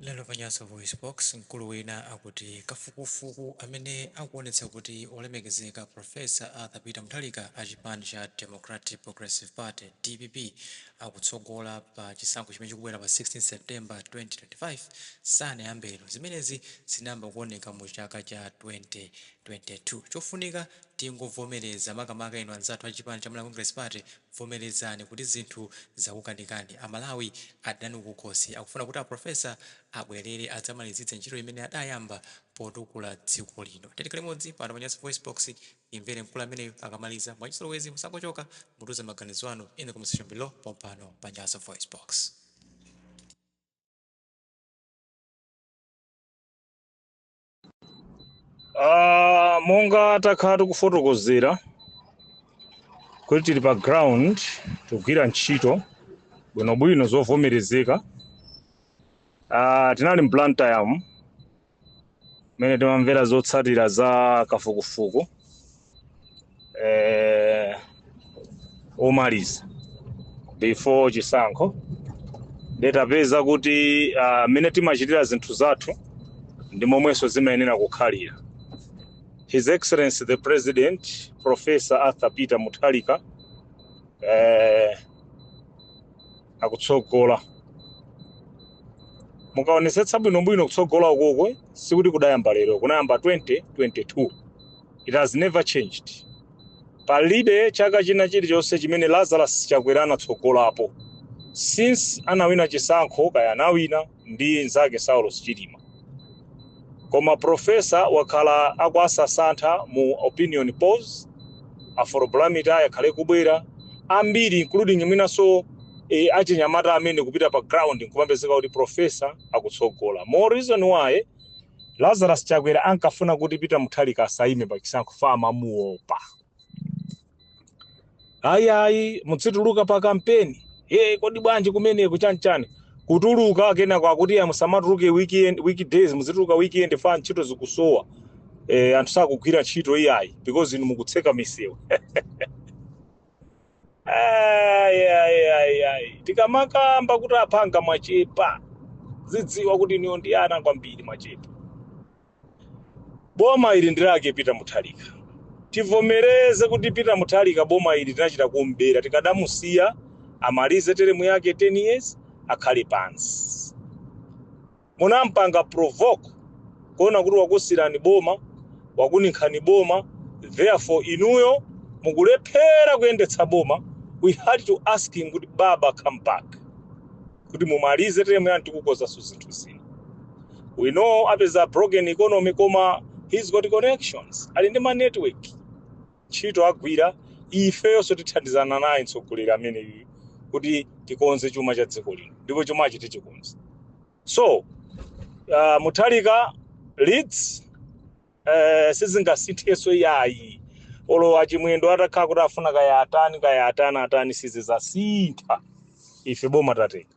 Lero pa Nyasa VoiceBox, mkulu wina akuti kafukufuku amene akuonetsa kuti Wolemekezeka Prof. Arthur Peter Mutharika a chipani cha Democratic Progressive Party, DPP, akutsogola pa chisankho chimene chikubwera pa 16 September 2025 sanayambe lero. Zimenezi zinayamba kuoneka mu chaka cha 2022. Chofunika tingovomereza, makamaka inu anzathu a chipani cha Malawi Congress Party, Vomerezani kuti zinthu zakukanikani. A Malawi adana nanu kukhosi. Akufuna kuti a Professor abwerere adzamalizitse ntchito imene adayamba potukula dziko lino. Tiyeni tikhale limodzi pano pa Nyasa VoiceBox timvere mkulu ameneyo akamaliza. Mwachizolowezi musangochoka, mutiuze maganizo anu in the comment section below pompano pa Nyasa VoiceBox. Ah, monga takhala tikufotokozera kuti tili pa ground tikugwira ntchito bwinobwino zovomerezeka Ah, tinali mu Blantyre umu mmene timamvera zotsatira za kafukufuku eh, omaliza before chisankho nde tapeza kuti ah, mmene timachitira zinthu zathu ndi momwenso zimayenera kukhalira His Excellency the President Professor Arthur Peter Mutharika eh, akutsogola mukaonesetsa bwinobwino kutsogola ukoku sikuti kudayamba lero kunayamba 2022 It has never changed. Palibe chaka china chilichonse chimene Lazarus Chakwera anatsogolapo since anawina chisankho kaya anawina ndi nzake Saulos Chilima. Koma profesa wakhala akuwasasantha mu opinion polls Afrobarometer akhala akubwera ambiri including mwinanso e, achinyamata amene akupita pa ground nkumapezeka kuti profesa akutsogola. More reason why Lazarus Chakwera ankafuna kuti Peter Mutharika asaime pa chisankho fa amamuopa. Ayi ayi mudzituluka pa kampeni. Eh kodi bwanji kumeneko chanchani? Kutuluka kenako akuti ya musamatuluke weekdays muzituluka weekend fa ntchito zikusowa. Eh anthu sakugwira ntchito iyayi because inu mukutseka misewu. Ai, ai, ai, ai. tikamakamba kuti aphwanga mwachepa dzidziwani kuti inuyo ndi ana kwambiri mwachepa boma ili ndi lake Peter Mutharika tivomereze kuti Peter Mutharika boma ili tinachita kumbera tikadamusiya amalize teremu yake 10 years akhale pansi Munamupanga provoke kuona kuti wakusilani boma, wakuninkhani boma therefore inuyo mukulephera kuyendetsa boma we had to ask him kuti baba come back kuti mumalize term yanu tikukozanso zinthu zina. We know apeza broken economy koma he's got connections ali ndi ma network. ntchito agwira, ifeyonso tithandizana naye mtsogoleri ameneyuyu kuti tikonze chuma cha dziko lino ndipo chumachi tichikonze. So uh, Mutharika leads eh, sizingasinthenso iyayi olo achimwendo atakhala kuti afuna kaya atani kaya atani atani sizizasintha ife boma tatenga